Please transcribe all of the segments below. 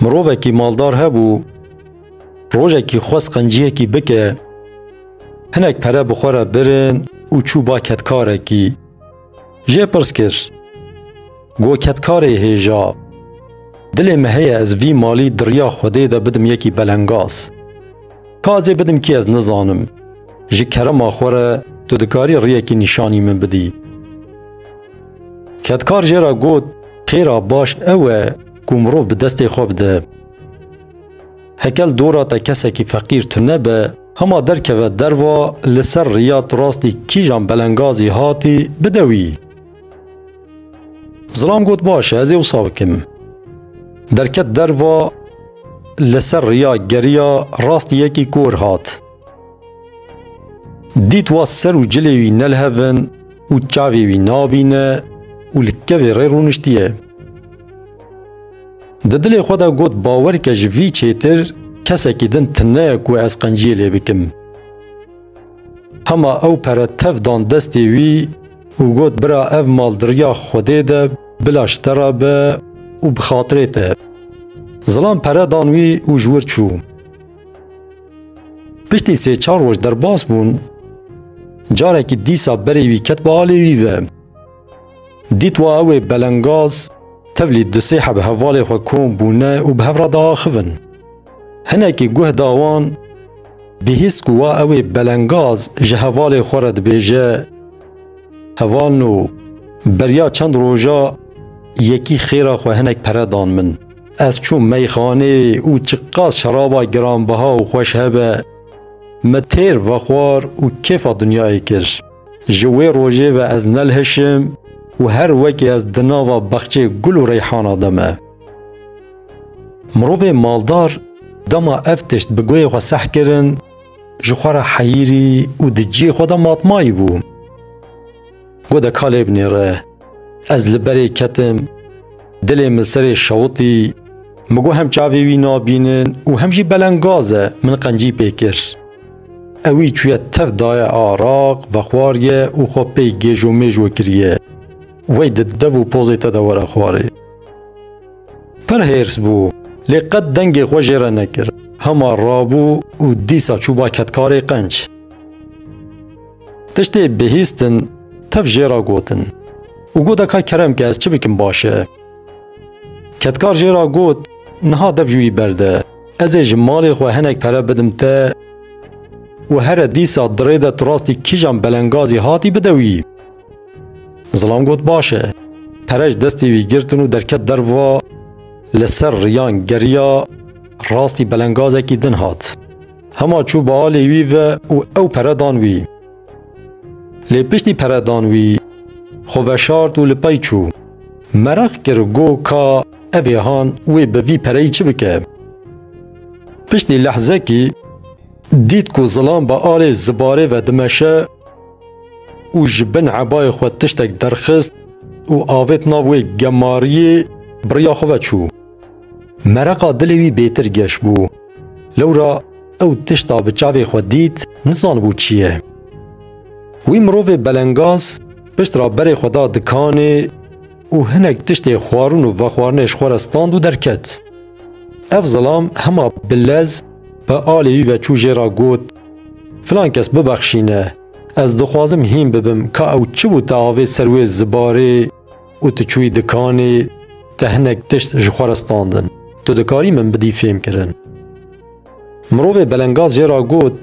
Mirovekî maldar hebû, rojekî xwest qenciyekî bike, hinek pere bi xwe re birin û çû ba ketkarekî. Jê pirs kir, Go ketkarê hêja, dilê me heye ez vî malî di riya Xwedê de bidim yekî belengaz. Ka ez ê bidim kî ez nizanim. Ji kerema xwe re tu dikarî riyekî nîşanî min bidî. Kedkar jê re got, Xêra baş ew e ku mirov bi destê xwe bide. Hekel dora te kesekî feqîr tune be, hema derkeve derva li ser riya tu rastî kîjan belengazî hatî, bide wî. Zilam got, Baş e, ez ê wisa bikim. Derket derva li ser riya geriya rastî yekî kor hat. Dît wa ser û cilê wî ne li hev in û çavê wî nabîne û li kevê rê rûniştiye. Di dilê xwe de got bawer ke ji vî çêtir kesekî din tune ye ku ez qenciyê lê bikim. Hema ew pere tev dan destê wî û got bira ev mal di riya Xwedê de bila ji te re be û bi xatirê te. Zilam pere dan wî û ji wir çû. Piştî sê çar roj derbas bûn. Carekî dîsa berê wî ket bi alê wî ve. Dît wa ew ê belengaz tevlî du sê heb hevalê xwe kom bûne û bi hev re diaxivin. Hinekî guh da wan, bihîst ku wa ew ê belengaz ji hevalê xwe re dibêje, Heval no, beriya çend roja yekî xêra xwe hinek pere dan min. Ez çûm meyxaneyê û çiqas şeraba giranbiha û xweş hebe, min têr vexwar û kêfa dinyayê kir. Ji wê rojê ve ez nelhişim û her wekî ez di nava bexçê gul û reyhana de me. Mirovê maldar dema ev tişt bi guhê xwe seh kirin, ji xwe re heyîrî û di ciyê xwe de matmayî bû. Got de kalê binê re. Ez li berê ketim. Dilê min serê şewitî. Min got hem çavê wî nabînin û hem jî beleng gaz e, min qencî pê kir. Ewî çûye tev daye araq, vexwariye û xwe pê gêjomêjo kiriye. Wey di dev û pozê te de were xwarê. Pir hêrs bû, lê qet dengê xwe jê re nekir. Hema rabû û dîsa çû ba ketkarê qenc. Tiştê bihîstin tev jê ra gotin. Û got eka kerem ke ez çi bikim baş e. Kedkar jê ra got niha dev jûyî berde. Ez ê ji malê xwe hinek pere bidim te û here dîsa dirê de tu rastî kîjan belengazî hatî bide wî. Zilam got baş e. Pere ji destê wî girtin û derket derva li ser riyan geriya rastî belengazekî din hat. Hema çû bi alê wî ve û ew pere dan wî. Lê piştî pere dan wî, xwe veşart û li pey çû. Mereq kir go ka ev ê han wê bi vî pereyî çi bike. Piştî lehzekî dît ku zilam bi alê zibarê ve dimeşe û ji bin ebayê xwe tiştek derxist û avêt nav wê gemariyê biriya xwe ve çû. Mereqa dilê wî bêtir geş bû. Lewra ew tişta bi çavê xwe dît, nizanibû çi ye. Wî mirovê belengaz piştra berê xwe da dikanê û hinek tiştê xwarin û vexwarinê ji xwe re stand û derket. Ev zilam hema bi lez bi alê wî ve çû jê re got, Filan kes bibexşîne, ez dixwazim hîn bibim ka ew çi bû te avêt ser wê zibarê, û tu çûyî dikanê te hinek tişt ji xwe re standin. Tu dikarî min bidî fêmkirin. Mirovê belengaz jê re got,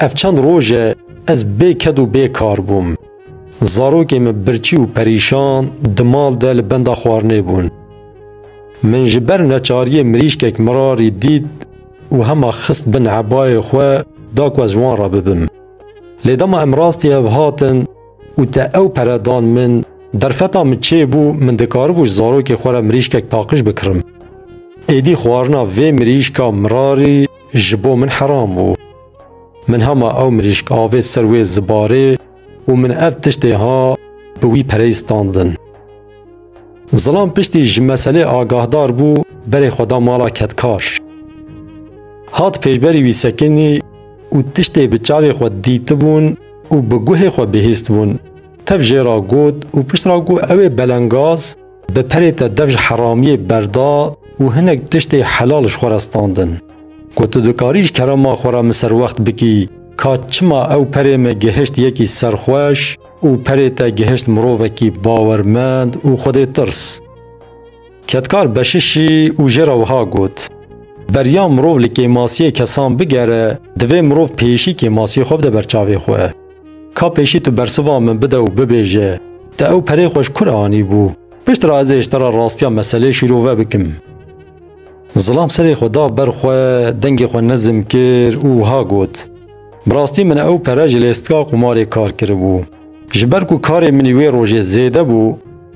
Ev çend roj e ez bê ked û bê kar bûm. Zarokên min birçî û perîşan di mal de li benda xwarinê bûn. Min ji ber neçariyê mirîşkek mirarî dît û hema xist bin ebayê xwe da ku ez ji wan re bibim. Lê dema em rastî hev hatin, Û te ew pere dan min, derfeta min çê bû, min dikaribû ji zarokê xwe re mirîşkek paqij bikirim. Êdî xwarina vê mirîşka mirarî ji bo min heram bû. Min hema ew mirîşk avêt ser wê zibarê û min ev tiştê ha bi wî pereyî standin. Zilam piştî ji meselê agahdar bû berê xwe da mala kedkar. Hat pêşberî wî sekinî û tiştê bi çavê xwe dîtibûn û bi guhê xwe bihîstbûn. Tev jê ra got û pişt ra ku ew ê belengaz bi perê te dev ji heramiyê berda û hinek tiştê helal ji xwe re standin. Got tu dikarî ji kerema xwe re min ser wext bikî ka çima ew perê min gihişt yekî serxweş, û perê te gihişt mirovekî bawermend û xwedêtirs. Kedkar Beşişî û jê re wiha got, Beriya mirov li kêmasiyê kesan bigere, divê mirov pêşî kêmasiyê xwe bide ber çavê xwe. Ka pêşî tu bersiva min bide û bibêje, te ew perê xwe ji kur anîbû? Pişt re ez ê ji te re rastiya meselê şîrove bikim. Zilam serê xwe da ber xwe, dengê xwe nizm kir û wiha got, Bi rastî min ew pere ji lêstika qumarê kar kiribû. Ji ber ku karê min wê rojê zêde bû,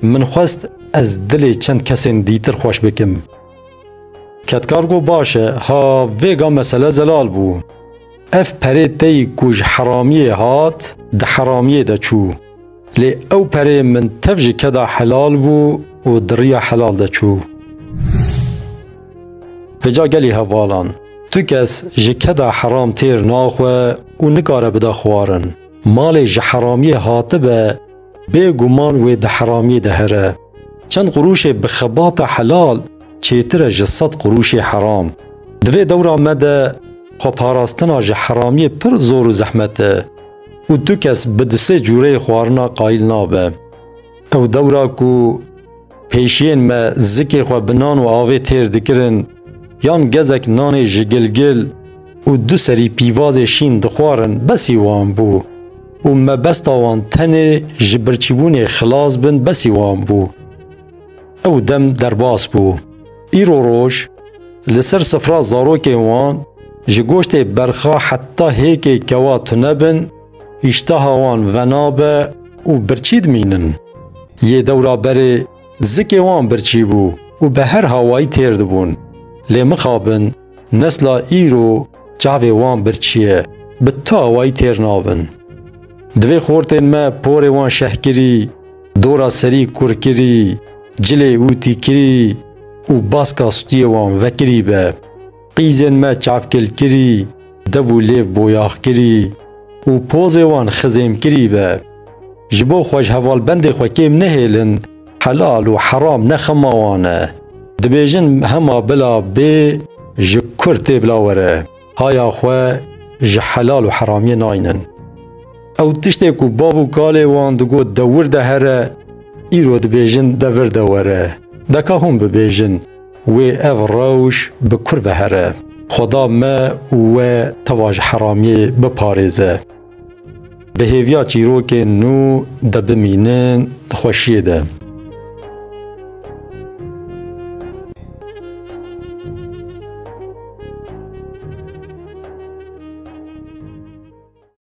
min xwest ez dilê çend kesên dîtir xweş bikim. Kedkar got baş e, ha vêga mesele zelal bû. Ev perê teyî ku ji heramiyê hat, di heramiyê de çû. Lê ew perê min tev ji keda helal bû û di riya helal de çû. Vêca gelî hevalan, tu kes ji keda heram têr naxwe û nikare bide xwarin. Malê ji heramiyê hatibe, bêguman wê di heramiyê de here. Çend qurûşê bi xebata helal çêtir e ji sed qurûşê heram. Di vê dewra me de xweparastina ji heramiyê pir zor û zehmet e. û tu kes bi di sê cûreyê xwarina qayîl nabe. Ew dewra ku pêşiyên me zikê xwe bi nan û avê têr dikirin yan gezek nanê ji gilgil û du serî pîvazê şîn dixwarin besî wan bû û mebesta wan tenê ji birçîbûnê xilas bin besî wan bû. Ew dem derbas bû. Îro roj li ser sifra zarokên wan ji goştê berxa heta hêkê kewa tune bin, îşteha wan venabe û birçî dimînin. Yê dewra berê zikê wan birçî bû û bi her hawayî têr dibûn. Lê mixabin. Nesla îro çavê wan birçî ye, bi tu awayî têr nabin. Divê xortên me porê wan şehkirî, dora serî kurkirî, cilê û tîkirî û baska stûyê wan vekirî be. Qîzên me çavkilkirî, dev û lêv boyaxkirî û pozê wan xizêmkirî be. Ji bo xwe ji hevalbendê xwe kêm nehêlin, Helal û heram ne xema wan e. Dibêjin hema bila bê ji kur tê bila were. Haya xwe ji helal û heramiyê naynin. Ew tiştê ku bav û kalê wan digot dewir de here, îro dibêjin devir de were. Deka hûn bibêjin wê ev rewş bi kur ve here. Xweda me û we teva ji heramiyê biparêze. Bi hêviya çîrokên nû de bimînin di xweşiyê de.